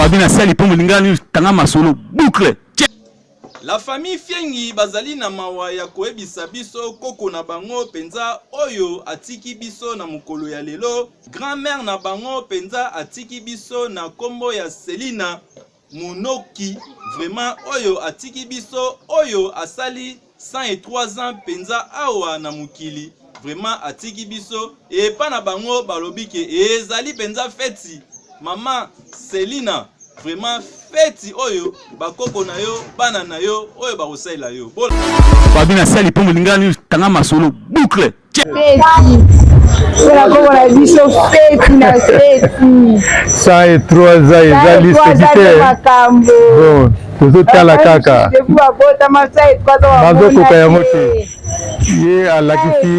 Fabi na sali po molinga ni tanga masolo boucle. La famille Fiengi bazali na mawa ya koyebisa biso koko na bango penza oyo atiki biso na mokolo ya lelo. Grand-mère na bango penza atiki biso na kombo ya Selina Monoki. Vraiment oyo atiki biso oyo asali 103 ans penza awa na mokili vraiment atiki biso epa na bango balobi ke ezali penza feti mama selina vraiment feti oyo bakoko na yo bana na yo oyo bakosalela yo fabi na sali mpo molingani tanga masolo boucle saa ye trois ans eza liseki te bon tozotala kaka bazokoka yango te ye alakisi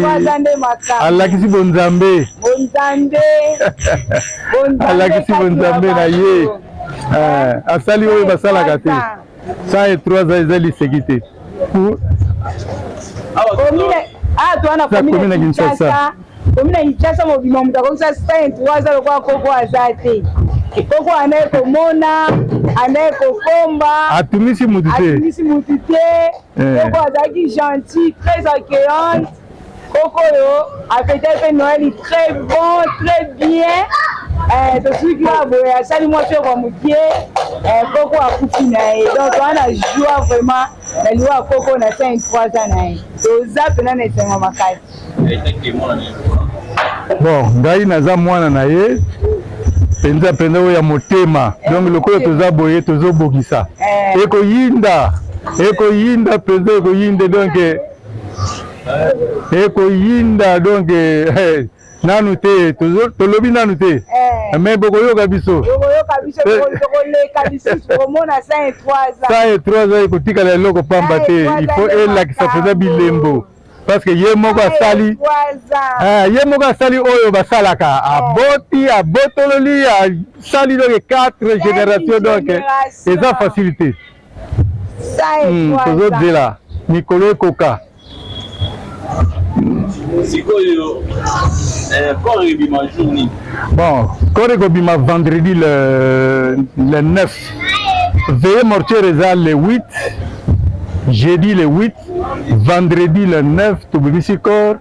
alakisi bonzambe alakisi bonzambe na ye asali oyo basalaka te Ça est trois ans eza liseki te. Ah, toi na commune na Kinshasa. Commune na Kinshasa mobima moto akokisa 53 ans lokola koko aza te. Koko anaye komona, anaye kokomba. Atumisi motu te. Atumisi motu te. Eh. Koko azalaki gentil, très accueillante. Koko oyo afetaki mpe Noeli très bon très bien eh, tosuki oyo boye asali mwa mpe kwa mokie eh, koko akufi na ye donc wana joie vraiment na liwa ya koko na 53 ans na ye toza mpena na esengo makasi bon ngai naza mwana na ye mpenza mpenza oyo ya motema eh, donc lokola toza boye tozobongisa eh. ekoyinda ekoyinda mpenza ekoyinda donc ekoyinda donc eh, nanu te tolobi nanu te eh. mais bokoyoka biso sa et trois ans ekotikala eloko pamba te il faut elakisa mpenza bilembo parce que ye moko asali eh, ye moko asali oyo basalaka eh. aboti abotololi asali donc quatre génération donc eza facilité Hmm, tozozela mikolo ekoka sikoyo eh, corps ebima jour nini bon corps ekobima vendredi le, le 9 veye mortiere eza le 8 jeudi le 8 vendredi le 9 tobimisi corps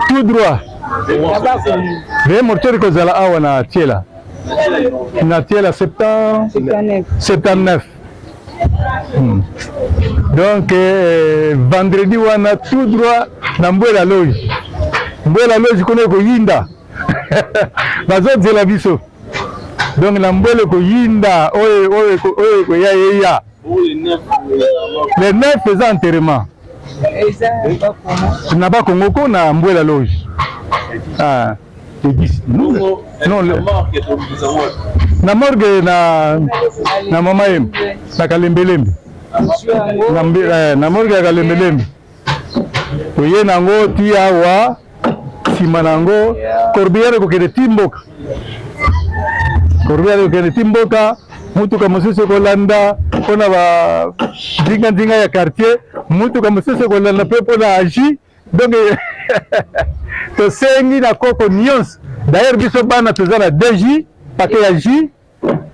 tout droit veye mortuaire ekozala awa na tiela na tiela 79 hmm. donc eh, vendredi wana tout droit na mbwela loge mbwela loge kuna ekoyinda bazozela biso donc na mbwela ekoyinda oyo ekoya eya le 9 eza enterrement na ba Congo ko na Mbuela Loge ah Edis non le na morgue na na mama yem na kalembelembe na morgue ya kalembelembe toye na yango ti awa nsima na yango corbillard ekokende ti mboka corbillard ekokende ti mboka motuka mosusu ekolanda mpo na bandinga-ndinga ya quartier motuka mosusu ekolanda mpe mpo na agi donc tosengi na koko nyonso d'ailleurs biso bana toza na dj pake ya jus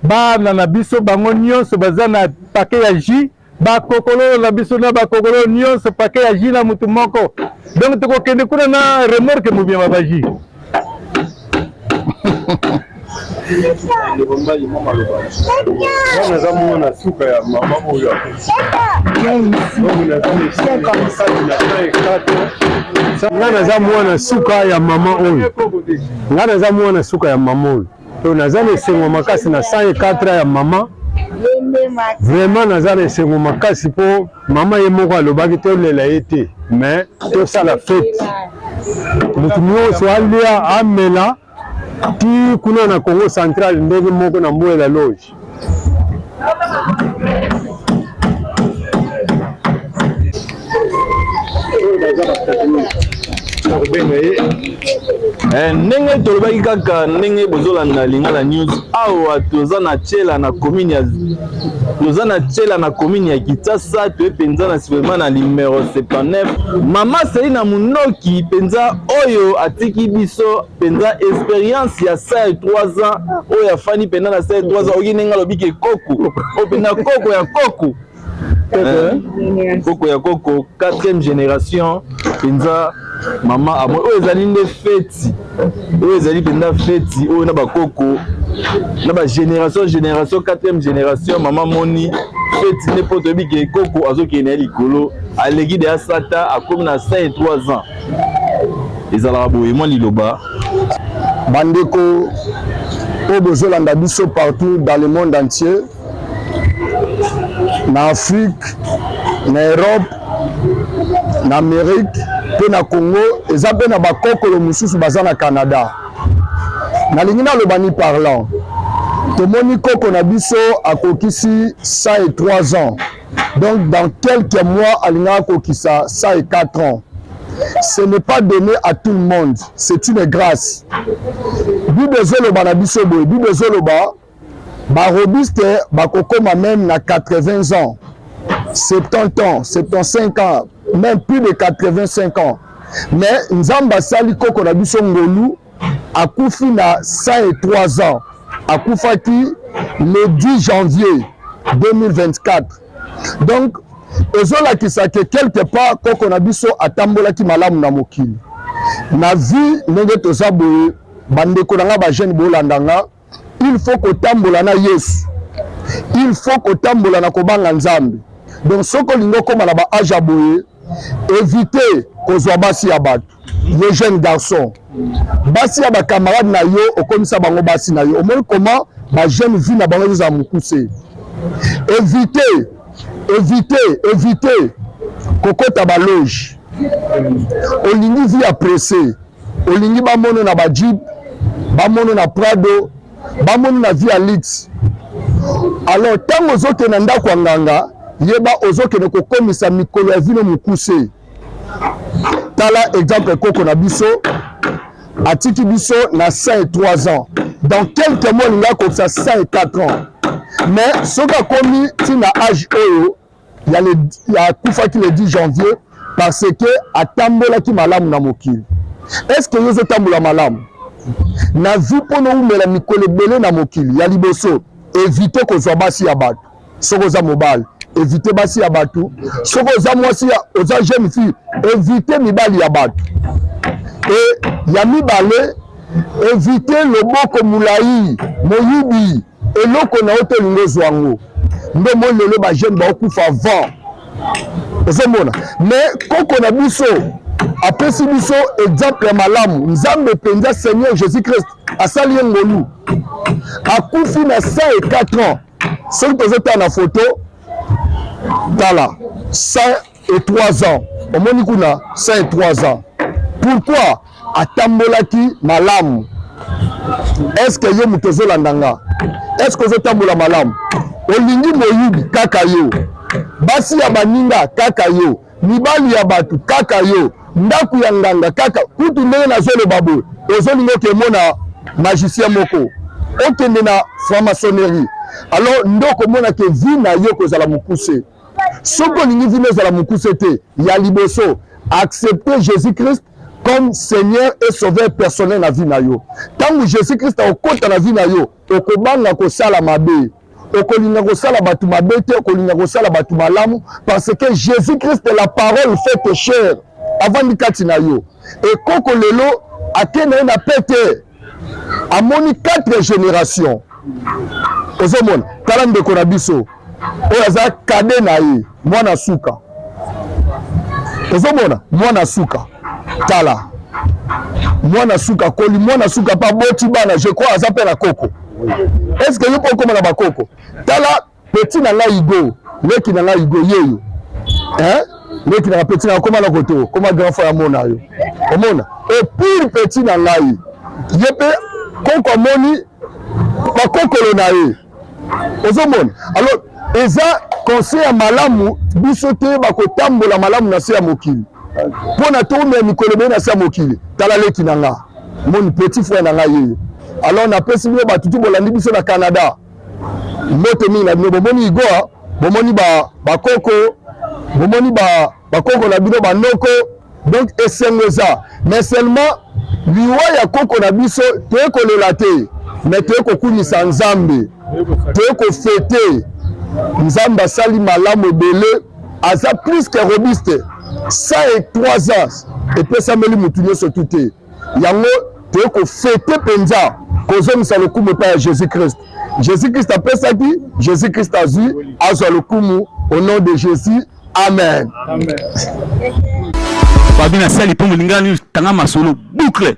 Bana na biso bango nionso baza na paquet ya jus, ba kokololo na biso na ba kokololo nionso paquet ya jus na mutu moko. Donc tokokende kuna na remorque mobiema ba jus. naza mwana suka ya mama oyo ngai naza mwana suka ya mama oyo ngai naza mwana suka ya mama oyo To naza na esengo makasi na 104 ya mama vraiment naza na esengo makasi mpo mama ye moko alobaki tolela ye te mais tosala fete moto nyonso alia amela ti kuna na congo central ndenge moko na mboela loge Eh, ndenge tolobaki kaka ndenge bozolanda lingala news awa toza na chela na commune ya toza na chela na commune ya kitasa toye mpenza na sivema na numero 79 mama seli na monoki mpenza oyo atiki biso penza experience ya sa ya 3 ans oyo ya fani penza na sa ya 3 ans oyoki ndenge alobi ke koko oyo penza koko ya koko koko ya koko 4e génération penza mama amo oyo ezali nde feti oyo ezali penza feti oyo na bakoko na bagénération génération 4e génération mama moni feti nde mpo toyebi ke koko azokende na ye likolo aleki deya sata akomi na 53 ans ezalaka boye mwa liloba bandeko oyo bozolanda biso partout dans le monde entier na afrique na europe na amérique mpe na congo eza mpe na bakokolo mosusu baza na canada nalingi naloba ni parlant tomoni koko na biso akokisi 103 ans Donc dans quelques mois alingaka kokisa ça et 4 ans. Ce n'est pas donné à tout le monde, c'est une grâce. Bible ezoloba na biso boye, Bible ezoloba ba robiste bakokoma même na 80 ans, 70 ans, 75 ans, même plus de 85 ans. Mais Nzambe asali koko na biso ngolu akufi na 103 ans akufaki le 10 janvier 2024 donc ezolakisa ke quelque part koko na biso atambolaki malamu na mokili na vie ndenge toza boye bandeko na ngai bajeune bolanda nga il faut kotambola na yesu il faut kotambola na kobanga nzambe donc soki olingi okóma na baage ya boye évite kozwa basi ya bato yo jeune garçon basi ya bacamarade na yo okomisa bango basi na yo omoni koma bajeune vie na bango ezozala mokuse évite évite évite kokota baloge olingi vie ya presse olingi bamono na bajip bamono na prado bamono na vie ya lix alors ntango ozokende na ndako ya nganga yeba ozokende kokomisa mikolo ya vino mokuse tala exemple koko na biso atiki biso na 5 et 3 ans dans quelques mois olingi akokisa 5 et 4 ans mais soki akomi ntina age oyo ya, le, ya akufaki le 10 janvier parce que atambolaki malamu na mokili est ce que yo ozotambola malamu na vie mpo nowumela mikolo ebele na mokili ya liboso evite kozwa basi ya bato soki oza mobali evite basi ya bato soki oza mwasi oza jeune fille evite mibali ya bato e ya mibale evite loboko molai moyibi eloko na yo te olingi ozwa yango nde omoni lelo bajeune baokufa vent ozomona mais koko na biso apesi biso exemple ya malamu nzambe mpenza seigneur jésus christ asali ye ngolu akufi na 104 ans soki tozotala na foto tala et trois ans omoni kuna ça et trois ans pourquoi atambolaki malamu est ce que yo moto ozolanda nga est ce que ozotambola malamu olingi moyibi kaka yo basi ya baninga kaka yo mibali ya bato kaka yo ndako ya nganga kaka kutu ndenge nazoloba boye ozolinga okemona magicien moko okende na franc-maçonnerie alors nde okomona ke vi na yo kozala mokuse soki olingi vino ezala mokuse te ya liboso accepte jésus christ comme seigneur et sauveur personnel na vie na yo ntango jésus christ akokota na vie na yo okobanga kosala mabe okolinga kosala bato mabe te okolinga kosala bato malamu parce que jésus christ la parole faite chair avandi kati na yo ekoko lelo ake na ye na pete amoni quatre génération ozomona tala ndeko na biso oyo aza kade na ye mwana suka ozomona mwana suka tala mwana suka akoli mwana suka mpe aboti bana je crois aza mpe na koko est ce que yo mpe okoma na bakoko tala Petit na ngai Hugo, leki na ngai Hugo yeyo. Hein? Leki na petit na koma na koto, koma grand frère mona yo. Omona? Et pour petit na ngai, ye pe koko amoni bakokolo na ye. Ozomona? Alors eza conseil ya malamu biso toyeba kotambola malamu na se ya mokili mpo na toumela mikolo ebele na se ya mokili tala leki na nga moni petit frère na ngai yeyo alors napesi bino bato tu bolandi biso na canada mbote mingi na bino bomoni igoa bomoni bakoko ba bomoni bakoko ba na bino banoko donc esengo eza mais seulement liwa ya koko na biso toye kolela te mais toye kokumisa nzambe toye kofete nzambe asali malamu ebele aza plus que robuste 103 ans epesameli motu nyonso tu te Yango toye kofete mpenza kozongisa lokumu epai ya Jésus Christ. Jésus Christ apesaki, Jésus Christ azwi, azwa lokumu au nom de Jésus. Amen. Amen. Babi na sali mpo molingani tanga masolo boucle.